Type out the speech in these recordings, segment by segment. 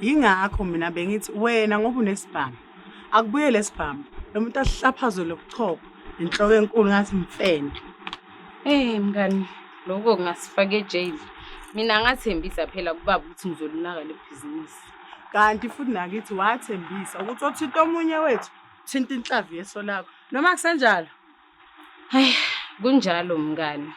yingakho mina bengithi wena ngoba unesibhamu akubuye lesibhamu lo muntu asihlaphazwe lokuchopha inhloko enkulu ngathi mfene Eh mngani lokho kungasifaka ejele mina ngathembisa phela kubaba ukuthi ngizolunaka lebhizinisi kanti futhi nakithi wathembisa ukuthi othinta omunye wethu thinta inhlavu yeso lakho noma kusenjalo Hayi, kunjalo mngani.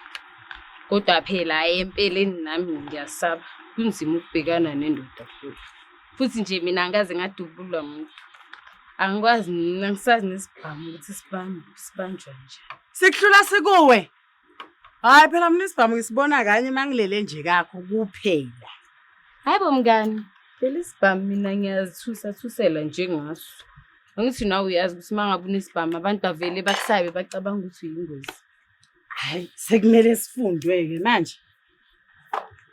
Kodwa phela hayi empeleni nami ngiyasaba. Kunzima ukubhekana nendoda futhi. Futhi nje mina angikaze ngadubulwa muntu. Angikwazi mina ngisazi nesibhamu ukuthi sibambe sibanjwa nje. Sikuhlula sikuwe. Hayi phela mina isibhamu ngisibona kanye mangilele nje kakho kuphela. Hayibo mngani, phela isibhamu mina ngiyazithusa thusela njengaso. Angithi nawe uyazi ukuthi uma ngabe unesibhamu abantu bavele bakusabe bacabanga ukuthi uyingozi. Hayi, sekumele sifundwe-ke manje.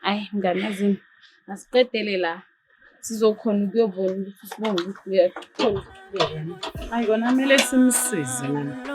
Hayi, mngane azini, asiqedele la. Sizokhona ukuyobona ukuthi sibonge ukuthi uyakhona ukuyobona. Hayi, kona kumele simsize manje.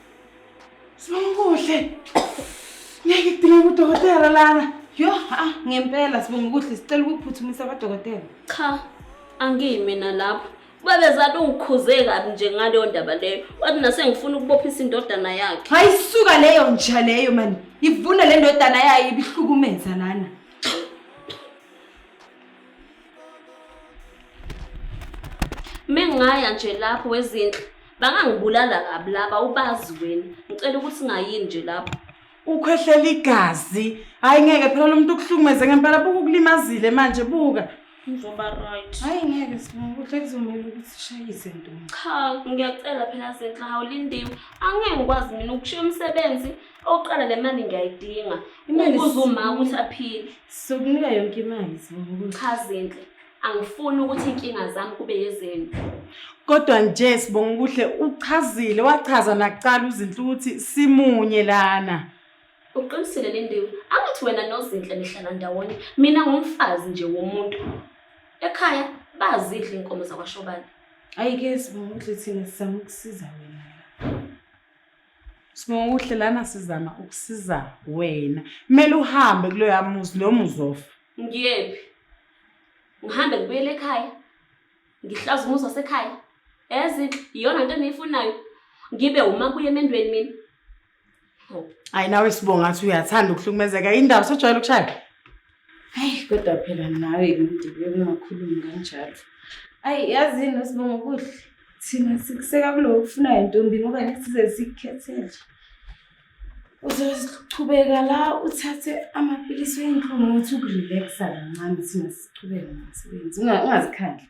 Sibonguhle. Ngeke idinga udokotela lana. Yo, ah, ngempela sibonguhle sicela ukuphuthumisa abadokotela. Cha, angimi na lapho. Babezade ungikhuze kabi nje ngaleyo ndaba leyo. Wathi nasengifuna ukubophisa indodana yakhe. Hayi suka leyo nja leyo mani. Ivuna le ndodana yayo ibihlukumeza lana. Mengaya nje lapho wezinhle bangangibulala kabi laba ubazi wena. Ngicela ukuthi ngayini nje lapho. Ukhwehlela igazi. Hayi ngeke phela lomuntu ukuhlumeze ngempela buku kulimazile manje buka. Ngizoba right. Hayi ngeke sinokuhle kuzomela ukuthi shayise ntombi. Cha ngiyacela phela senhla hawulindiwe. Angeke ngikwazi mina ukushiya umsebenzi Oqala le mali ngiyayidinga. Imali uzuma ukuthi aphile. Sokunika yonke imali sibuka. Cha Zinhle, angifuni ukuthi inkinga zami kube yezenu. Kodwa nje sibonga ukuhle uchazile wachaza nakuqala uzinhle ukuthi simunye lana. Uqinisile Lindiwe, angithi wena noZinhle nihlala ndawonye. Mina ngumfazi nje womuntu. Ekhaya bazidla inkomo zakwaShobane. Ayike sibonga ukuthi thina sizama ukusiza wena. Sibonguhle lana sizama ukusiza wena. Kumele uhambe kulo yamuzi noma uzofa. Ngiyephi? Ngihambe ngibuyele ekhaya. Ngihlaza umuzi wasekhaya. Yazi iyona into engiyifunayo. Ngibe uma kuye emendweni mina. Hayi nawe sibonga ukuthi uyathanda ukuhlukumezeka. Indaba sejwayele ukushaya. Hayi kodwa phela nawe ngidibeke ungakhulumi kanjalo. Ayi yazini usibonga kuhle. Thina sikuseka kulo kufunayo ntombi ngoba nesize sikukhethele. Uzochubeka la uthathe amapilisi wendlu ngothi ukurelaxa kancane thina sichubeke nomsebenzi. Ungazikhandli.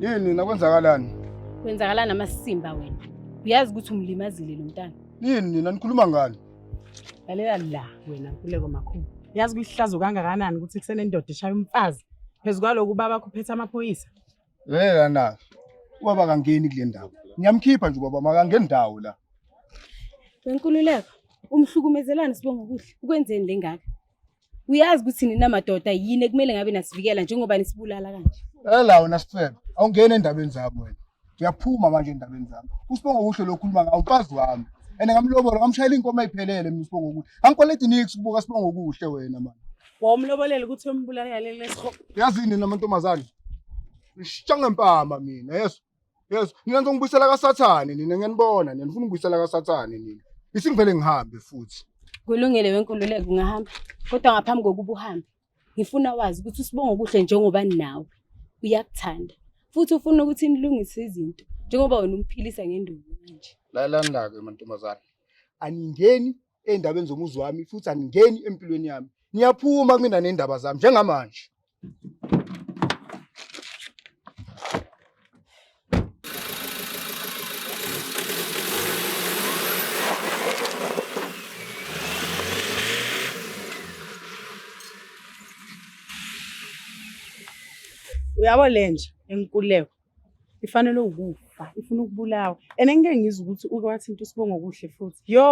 Yini nakwenzakalani? Kwenzakalani amasimba wena? Uyazi ukuthi umlimazile lo mntana. Yini nina nikhuluma ngani? Lalela la wena Nkuleko makhulu. Uyazi kuyihlazo kangakanani ukuthi kusenendoda eshaya umfazi phezu kwaloku baba kuphethe amaphoyisa. Hey lana. Ubaba kangeni kule ndawo. Ngiyamkhipha nje ubaba makangeni ndawo la. Wenkululeko, umhlukumezelani sibonga kuhle. Ukwenzeni lengaka? Uyazi ukuthi nina madoda yini ekumele ngabe nasivikela njengoba nisibulala kanje. Ela wena sifebe, awungeni endabeni zabo wena. Uyaphuma manje endabeni zami. Usibonga kuhle lokhuluma ngawo umfazi wami. Ene ngamlobola ngamshayela inkomo ayiphelele mina usibonga kuhle. Angikwaledi nix kubuka sibonga kuhle wena manje. Wawumlobolela ukuthi uyombulala yaleli lesihogo. Yazi yini nina mantombazane? Ngishintsha ngempama mina, yeso. Yeso, nina ngizongibuyisela kaSathane nina ngiyanibona nina nifuna ukubuyisela kaSathane nina. Isingivele ngihambe futhi. Kulungile wenkululeko ungahamba kodwa ngaphambi kokuba uhambe ngifuna wazi ukuthi usibonga okuhle njengoba nawe uyakuthanda futhi ufuna ukuthi nilungise izinto njengoba wena umphilisa ngenduku manje. Lalani-ke mantombazane, aningeni ey'ndabeni zomuzi wami futhi aningeni empilweni yami niyaphuma kumina ney'ndaba zami njengamanje uyabo lenja enkuleko ifanele ukufa ifuna ukubulawa and engike ngizwe ukuthi uke wathinta usibongo okuhle futhi yo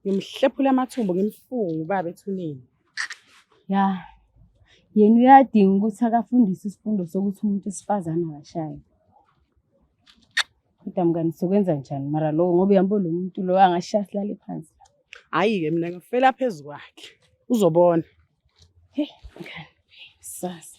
ngimhlephula amathumbu ngimfunga ubaba ethuneni ya yena uyadinga ukuthi akafundise isifundo sokuthi umuntu wesifazane akashayi kodwa mngani sokwenza njani mara lowo ngoba uyambona lo muntu lowo angashaya silale phansi hhayi-ke mina ngifela phezu kwakhe uzobona hey mngani sasa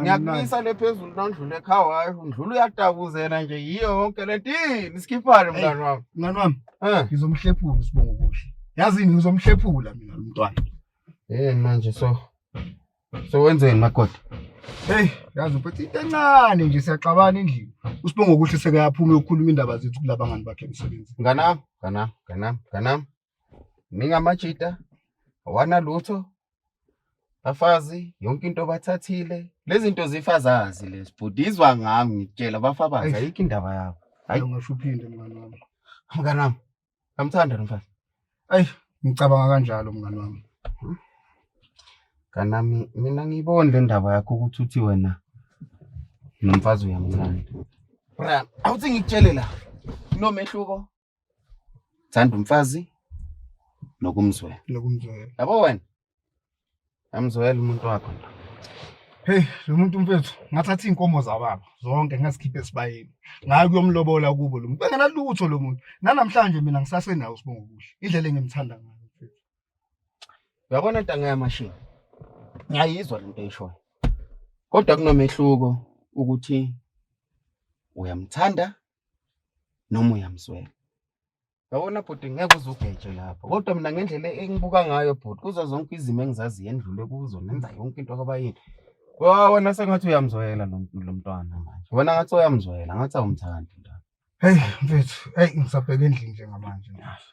ngiyakumisa le phezulu nondlule ekhaya hayi ndlula uyatabuzela nje yiyo yonke le nto ini sikhiphane mngani wami mngani wami um ngizomhlephula usibongo kuhle yazini ngizomhlephula mina lo mntwana yini manje so so wenzeni magoda heyi yazi uphethe into encane nje siyaxabana endlini usibongo kuhle sekayaphuma yokukhuluma indaba zethu kulabangani bakhe emsebenzini nganam nganam nganam nganam ningamajita awanalutho bafazi yonke into bathathile lezinto zifazazi lezi bhuti izwa ngami ngitshela bafabazi ayikho indaba yabo hayi ungasho uphinde mngani wami mngani wami ngamthanda nomfazi ayi ngicabanga kanjalo mngani wami hmm? kanami mina ngiyiboni le ndaba yakho ukuthi uthi wena nomfazi uyamthanda bra awuthi ngikutshele la nomehluko Thanda umfazi nokumzwela. Nokumzwela. Yabo wena. Amzwela umuntu wakho nto. Hey, lo muntu mfethu ngathatha izinkomo zababa zonke ngazikhipha esibayeni. Ngayi kuyomlobola kubo lo muntu. Bengena lutho lo muntu. Nanamhlanje mina ngisasenawo sibonga kuhle. Indlela engimthanda ngayo mfethu. Uyabona ntanga yamashini. Ngiyayizwa lento eyishoyo. Kodwa kunomehluko ukuthi uyamthanda noma uyamzwela yabona bhuti ngeke uzugeje lapho kodwa mina ngendlela engibuka ngayo bhuti kuzo zonke izimo engizaziyo endlule kuzo nenza yonke into kwabayini wona sengathi uyamzwela lo mntwana manje wena ngathi uyamzwela ngathi awumthandi mntwana heyi mfethu heyi ngisabheke endlini njengamanje ngasho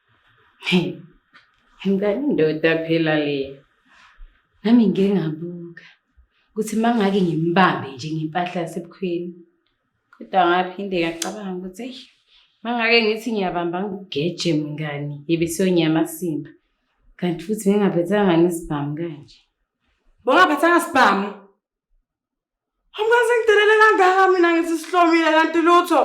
Ngani ndoda phela le. Nami ngike ngabuka ukuthi mangake ngimbambe nje ngempahla yasebukhweni. Kodwa ngaphinde ngacabanga ukuthi eyi mangake ngithi ngiyabamba ngigeje mngani yebe siyonyama simba. Kanti futhi ngingaphathanga ngesibhamu kanje. Bongaphathanga sibhamu. Angaze ngidelele kangaka mina ngithi sihlomile kanti lutho.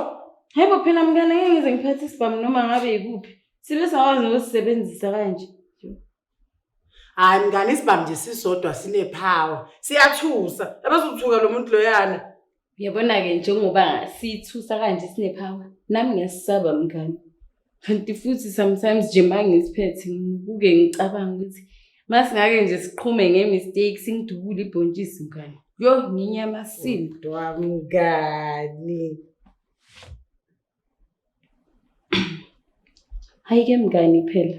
Yebo phela mngane ngeke ngize ngiphathe isibhamu noma ngabe yikuphi. Sibe sawazi nokusisebenzisa kanje. Hayi mngane isibhamu nje sisodwa sinepower. Siyathusa. Abazothuka lo muntu loyana. Yabona-ke njengoba sithusa kanje sinepower nami ngiyasisaba mngane. kanti futhi sometimes nje uma ngisiphethe ngibuke ngicabanga ukuthi uma singake nje siqhume nge-mistake singidubule ibhontshisi mngani yo nginyamasile mngani hhayi-ke mngani phela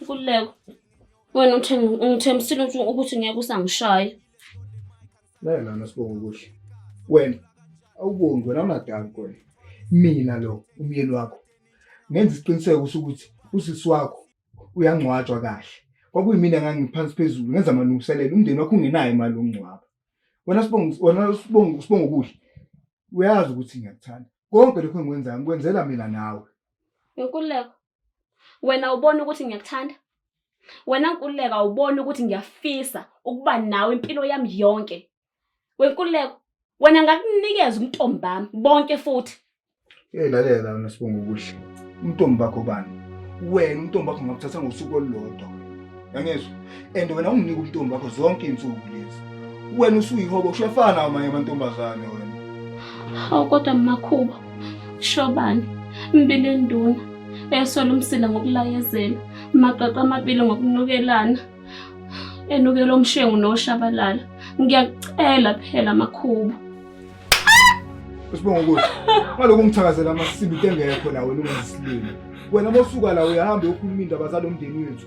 Nkululeko. Wena ungithembisile ukuthi ngeke usangishaya. Naye lana sibonga ukuthi wena awubongi wena unadali kwena. Mina lo umyeni wakho ngenza isiqiniseko ukuthi usisi wakho uyangcwatshwa kahle. Kwakuyimina ngangiphansi phezulu ngenza amalungiselelo umndeni wakho ungenayo imali yokungcwaba. Wena sibonga wena sibonga sibonga ukudla. Uyazi ukuthi ngiyakuthanda. Konke lokho engikwenzayo ngikwenzela mina nawe. Nkululeko, wena ubona ukuthi ngiyakuthanda? Wena Nkululeko awuboni ukuthi ngiyafisa ukuba nawe impilo yami yonke? Wenkululeko, wena ngakunikeza umntombi bami bonke futhi. Hey lalela wena Sibonga okuhle. Umntombi bakho bani? Wena umntombi bakho ngakuthatha ngosuku olulodwa. yangezwa and wena unginike ubuntombi bakho zonke iy'nsuku lezi wena usuyihobo ushefana amanye amantombazane wena hawu kodwa makhuba shobani mbili enduna esola umsila ngokulayezela magaqa amabili ngokunukelana enukela umshengu noshabalala ngiyakucela phela makhuba usibonga ukuthi ngalokhu ngithakazela amasibiti engekho nawe lungesilimi wena mosuka la uyahamba uyokhuluma indaba zalo mndeni wethu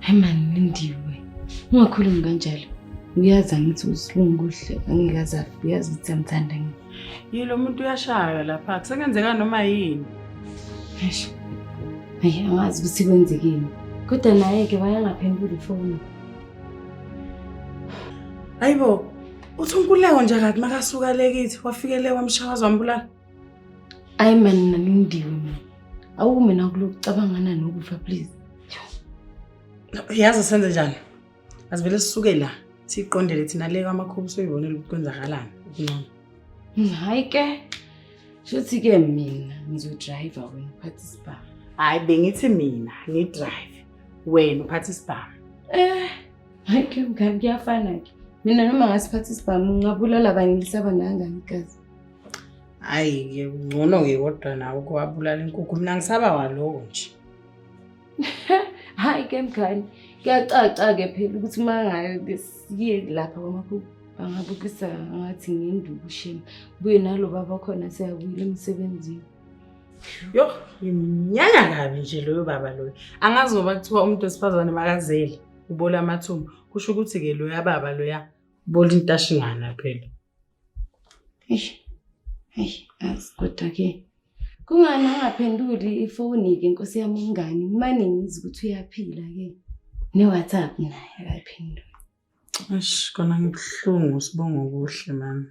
Hayi mani Lindiwe, ungakhulumi kanjalo. Uyazi angithi usilungu kuhle angeke aze afe, uyazi ukuthi amthanda ngini. Yilo muntu uyashaywa lapha, kusengenzeka noma yini. Eish. Hayi angazi ukuthi kwenzekeni. Kodwa naye-ke wayangaphenduli ifoni. Hayibo, uthi unkululeko nje kade makasuka le kithi wafikele wamshawaza wambulala. Ayi man nalindiwe mina. Awu mina kulokucabangana nokufa please. Yazi senze njani? Asivele sisuke la. Siqondele thina le kwamakhubu soyibonela ukuthi kwenzakalani. Ngcono. Hayi ke. Shothi ke mina ngizodrive wena uphathe isibhamu. Hayi bengithi mina ngidrive wena uphathe isibhamu. Eh, hayi ke mngani kuyafana ke. Mina noma ngasiphatha isibhamu ngingabulala kanye lisaba nangani kazi. hayi-ke ngcono-ke kodwa nawe ukuwabulala inkukhu mina ngisaba waloko nje hhayi ke mngani kuyacaca-ke phela ukuthi uma ngabe siye lapha kwamakhuku bangabukisa ngathi ngindukusheni buye nalo baba khona siyabuyela emsebenzini yo ngimnyanya kabi nje loyo baba loyo angazi ngoba kuthiwa umuntu wesifazane makazele ubola amathumba kusho ukuthi-ke loya baba loya ubola intashingana phela Eish. Eish, azi kodwa ke. Kungani angaphenduli ifoni ke nkosi yami umngani ngimane ngizwe ukuthi uyaphila ke. Ne WhatsApp naye akayiphenduli. Eish, kona ngibuhlungu sibonga okuhle mama.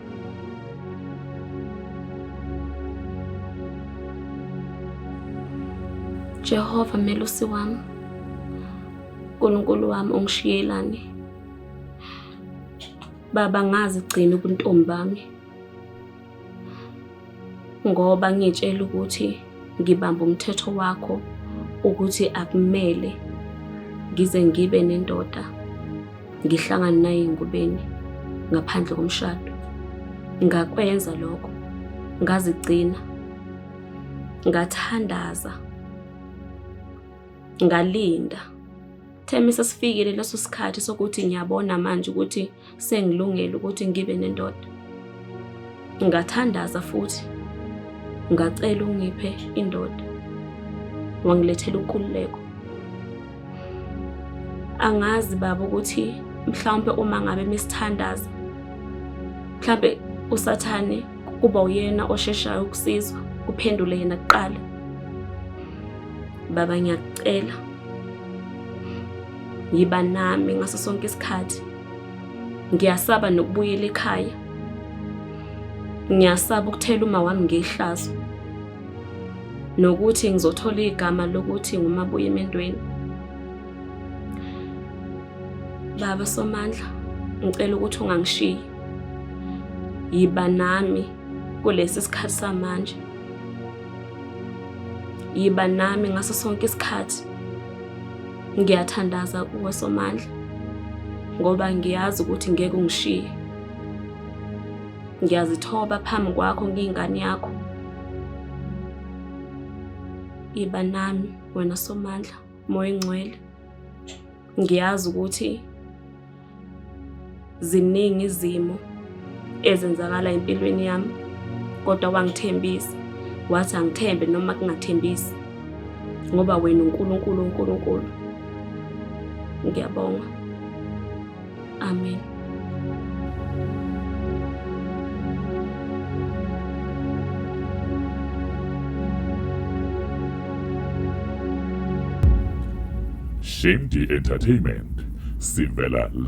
Jehova melusi wami Nkulunkulu wami ungishiyelani Baba ngazi gcina ubuntombi bami ngoba ngitshela ukuthi ngibamba umthetho wakho ukuthi akumele ngize ngibe nendoda ngihlangane naye engubeni ngaphandle komshado ngakwenza lokho ngazigcina ngathandaza ngalinda themisa sifikile leso sikhathi sokuthi ngiyabona manje ukuthi sengilungele ukuthi ngibe nendoda. Ngathandaza futhi ngacela ungiphe indoda. Wangilethela ukululeko. Angazi baba ukuthi mhlawumbe uma ngabe misithandaza mhlawumbe usathane kuba uyena osheshayo ukusizwa kuphendule yena kuqala baba ngiyakucela Yiba nami ngaso sonke isikhathi. Ngiyasaba nokubuyela ekhaya. Ngiyasaba ukuthela uma wami ngehlazo. Nokuthi ngizothola igama lokuthi ngumabuye emendweni. Baba Somandla, ngicela ukuthi ungangishiyi. Yiba nami kulesi sikhathi samanje. Yiba nami ngaso sonke isikhathi. Ngiyathandaza kuwe Somandla ngoba ngiyazi ukuthi ngeke ungishiye. Ngiyazithoba phambi kwakho ngiyingane yakho. Iba nami wena Somandla, Moya Ngcwele. Ngiyazi ukuthi Ziningi izimo ezenzakala empilweni yami kodwa wangithembisa wathi angithembe noma kungathembisi ngoba wena uNkulunkulu uNkulunkulu ngiyabonga amen Shimdi Entertainment sivela